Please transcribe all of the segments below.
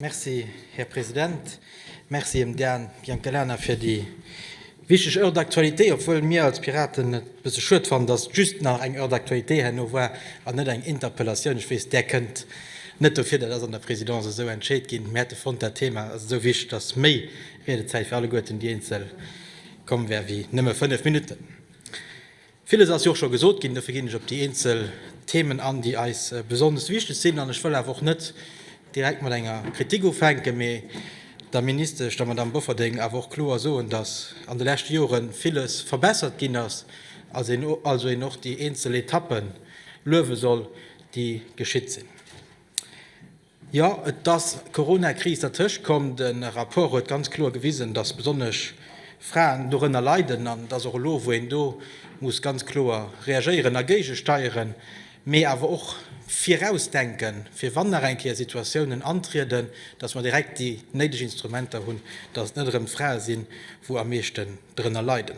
Merci, Här President. Merci dem Dan Biancalana fir déi wichteg Heure d'actualité, obwuel mir als Piraten et e bësse schued fannen, dass just nach eng Heure d'actualité herno war an net eng Interpellatioun. Ech weess, där kënnt net dofir, dat ass an der Présidence esou entscheet ginn. Mir hätte fonnt, dat Thema ass esou wichteg, dass méi Riedezäit fir alleguerten, déi Eenzel, komm wär wéi nëmme fënnef Minutten. Villes ass jo och scho gesot ginn, dofir ginn ech op déi eenzel Themen an, déi eis besonnesch wichteg sinn. An ech wëll awer och net direkt mat enger Kritik ufänken, mee der Ministesch, der Madamm Bofferding, awer och kloer soen, dass an de leschte Jore villes verbessert ginn ass, also een och déi eenzel Etappe luewe soll, déi geschitt sinn. Jo, et ass d'Coronakris dertëscht komm. De Rapport huet ganz kloer gewisen, dass besonnesch Fraen dorënner leiden an dass och elo, wou een do muss ganz kloer reagéieren a géigesteieren, mee awer och virausdenken, fir wann nach eng Kéier Situatiounen antrieden, dass mer direkt déi néideg Instrumenter hunn, dass et net erëm d'Frae sinn, wou am meeschten dorënner leiden.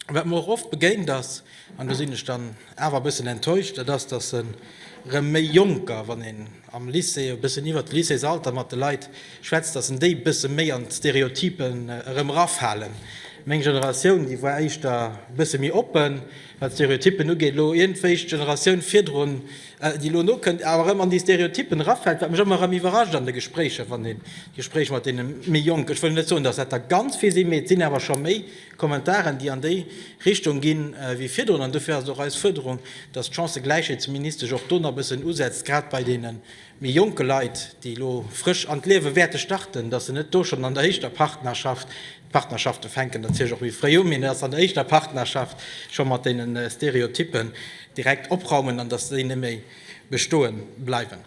Wat mer och oft begéint ass, an do sinn ech dann awer e bëssen enttäuscht, dat ass, dass erëm méi Jonker, wann een am Lycée e bëssen iwwert d'Lycéesalter mat de Leit schwätzt, dass en déi e bësse méi an d'Stereotypen erëm erafalen. Meng Generatioun, déi war éischter e bësse méi oppen, wat d'Stereotypen ugeet. Elo iergendwéi d'Generatioun virdrun, déi elo nokënnt, awer erëm an déi Stereotypen erafält, wat mech ëmmer erëm iwwerrascht an de Gespréicher, wann een d'Gespréich mat deene méi Jonken, ech wëll net soen, dass dat der ganz vill sinn, mee et sinn awer scho méi, Kommentaren, déi an déi Richtung ginn, wéi virdrun. An dofir ass et och eis Fuerderung, dass d'Chancëgläichheetsministesch och do nach e bëssen usetzt, grad bei deene méi jonke Leit, déi elo frësch an d'Liewe wäerte starten, dass se net do schonn an der éischter Partnerschaft, d'Partnerschafte fänken natierlech och méi fréi u, mee dass se an der éischter Partnerschaft scho mat deene Stereotyppen direkt opraumen an dass déi net méi bestoe bleiwen.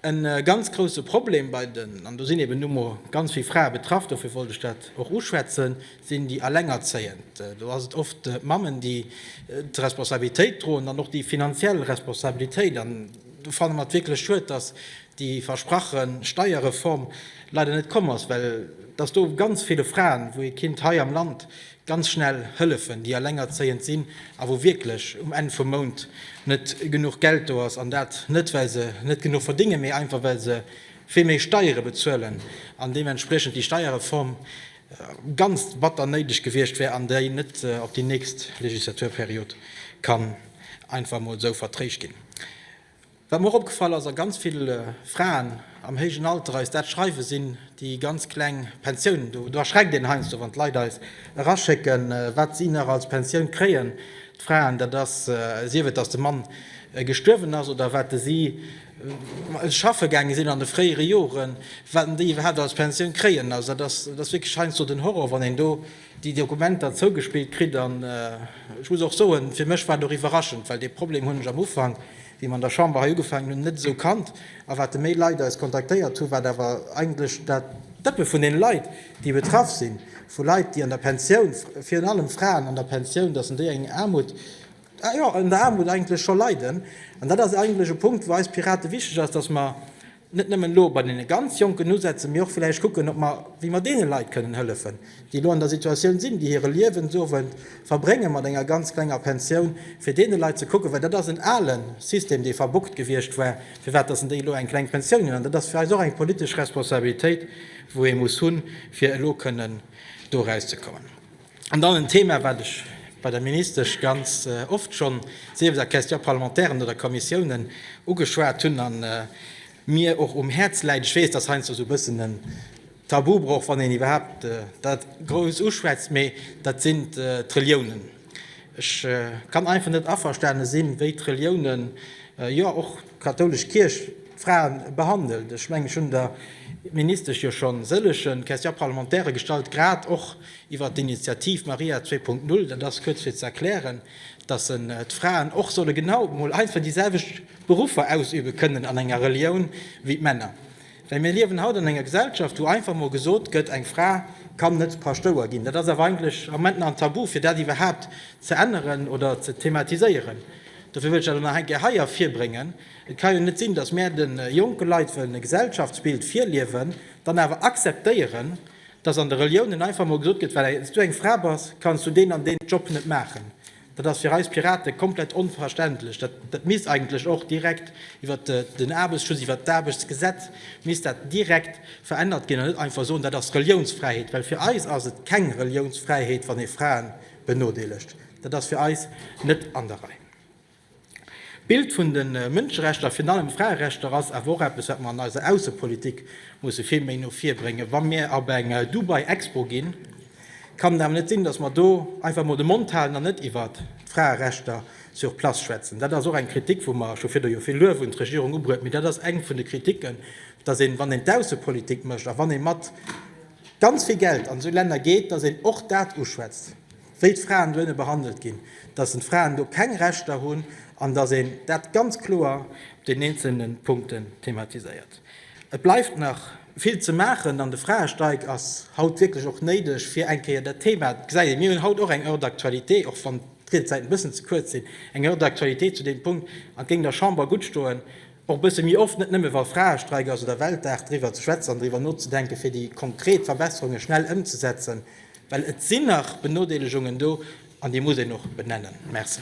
E ganz grouse Problem bei den, an do sinn eben nu mol ganz vill Frae betraff, dofir wollt ech dat och uschwätzen, sinn déi Alengerzéiend. Do ass et oft d'Mammen, déi d'Responsabilitéit droen, dann och déi finanziell Responsabilitéit. An do fanne mer et wierklech schued, dass déi versprache Steierreform leider net komm ass, well dass do ganz ville Fraen, wou ee Kind hei am Land ganz schnell hëllefen, déi elengerzéiend sinn a wou wierklech um Enn vum Mount net genuch Geld do ass, an dat net well se net genuch verdéngen, mee einfach well se vill méi Steiere bezuelen an deementspriechend déi Steierreform ganz batter néideg gewiescht wär an déi net op déi nächst Legislaturperiod kann einfach emol esou vertréischt ginn. Wat mer och opgefall ass, a ganz vill Fraen am héijen Alter eis dat schreiwen, sinn déi ganz kleng Pensiounen. Do erschreckt een heiansdo, wann d'Leit eis eraschécken, wat si nach als Pensioun kréien, d'Fraen, dat ass, sief et, datt de Mann gestuerwen ass oder wat si schaffe gaange sinn an de fréiere Joren, wat déi iwwerhaapt als Pensioun kréien. Also dat ass wierklech heiansdo den Horror, wann een do déi Dokumenter zougespillt kritt an ech muss och soen, fir mech war et och iwwerraschend, well dee Problem hunn ech am Ufank, wéi mer an der Chamber hei ugefaangen hunn, net esou kannt. A wat de méi Leit eis kontaktéiert hu wat awer eigentlech dat d'Dëppe vun deene Leit, déi betraff sinn, vu Leit, déi an der Pensioun, virun allem Fraen an der Pensioun, dass en déi eng Aarmut, jo, an der Aarmut eigentlech scho leiden. An dat ass eigentlech e Punkt, wou eis Pirate wichteg ass, dass mer, net nëmmen elo bei deene ganz Jonken usetzen, mee och villäicht kucken, ob mer, wéi mer deene Leit kënnen hëllefen, déi elo an der Situatioun sinn, déi hire Liewensowend verbrénge mat enger ganz klenger Pensioun, fir deene Leit ze kucken, well dat ass en ale System, dee verbuggt gewiescht war, firwat dass en déi elo eng kleng Pensioun ginn. An dat ass fir eis och eng politesch Responsabilitéit, wou ee muss hunn, fir elo kënnen do erauszekommen. An dann en Thema, wat ech bei der Ministesch ganz oft schonn, sief et a Questions parlementairen oder Kommissiounen, ugeschwat hunn a mir och um Häerz läit. Ech weess, dat ass heiansdo esou e bëssen en Tabubroch, wann een iwwerhaapt dat grouss uschwätzt, mee dat sinn d'Reliounen. Ech kann einfach net averstane sinn, wéi d'Reliounen, jo och d'kathoulesch Kierch, d'Fraen behandelt. Ech mengen, ech hunn der Ministesch jo schonn sëllege Questions parlementaires gestallt, grad och Iwwert d'Initiativ Maria 2.0, dat ass kuerz fir ze erklären, dass d'Fraen och solle genau emol einfach déi selwecht Beruffer ausübe kënnen an enger Relioun wéi d'Männer. Well mir liewen haut an enger Gesellschaft, wou einfach mol gesot gëtt, eng Fra kann net Paschtouer ginn. Dat ass awer eigentlech am Moment nach en Tabu, fir dat iwwerhaapt ze änneren oder ze thematiséieren. Dofir wëll ech dat och nach eng Kéier hei ervirbréngen. Et ka jo net sinn, dass mär de jonke Leit wëllen e Gesellschaftsbild virliewen, dann awer akzeptéieren, dass an de Reliounen einfach mol gesot gëtt, well s du eng Fra bass, kanns du deen an deen Job net maachen. Dat ass fir eis Piraten komplett onverständlech. Dat dat misst eigentlech och direkt iwwert den Aarbechtsschutz, iwwert d'Aarbechtsgesetz misst dat direkt verännert ginn an net einfach soen, dat ass Reliounsfräiheet. Well fir eis ass et keng Reliounsfräiheet, wann ee Frae benodeelegt. Dat ass fir eis net an der Rei. D'Bild vun de Mënscherechter a virun allem Fraerechter ass awer och eppes, wat mer an eiser Aussepolitik musse vill méi no vir bréngen. Wa mir op eng Dubai Expo ginn, kann et awer net sinn, dass mer do einfach emol de Mond halen an net iwwert d'Fraerechter sur place schwätzen. Dat ass och eng Kritik, wou mer scho virdu jo vill Luef un d'Regierung ubruet hunn. Mee dat ass eng vun de Kritiken, dass een, wann een d'Aussepolitik mécht a wann ee mat ganz vill Geld an esou Länner geet, dass een och dat uschwätzt. wéi d'Fraen dohinne behandelt ginn, dass en d'Fraen do keng Rechter hunn an dass een dat ganz kloer op den eenzelne Punkten thematiséiert. Et bleift nach vill ze maachen an de Fraestreik ass haut wierklech och néideg fir eng Kéier dat Thema, et gesäit een, mir hunn haut och eng Heure d'actualité, och wann d'Riedezäiten e bëssen ze kuerz sinn, eng Heure d'actualité zu deem Punkt an et géing der Chamber gutt stoen, och e bësse méi oft, net nëmme wa Fraestreik ass oder Weltdag, driwwer ze schwätzen an driwwer nozedenken, fir déi konkret Verbesserunge schnell ëmzesetzen. Well et sinn nach Benodeelegungen do, an déi muss een och benennen. Merci.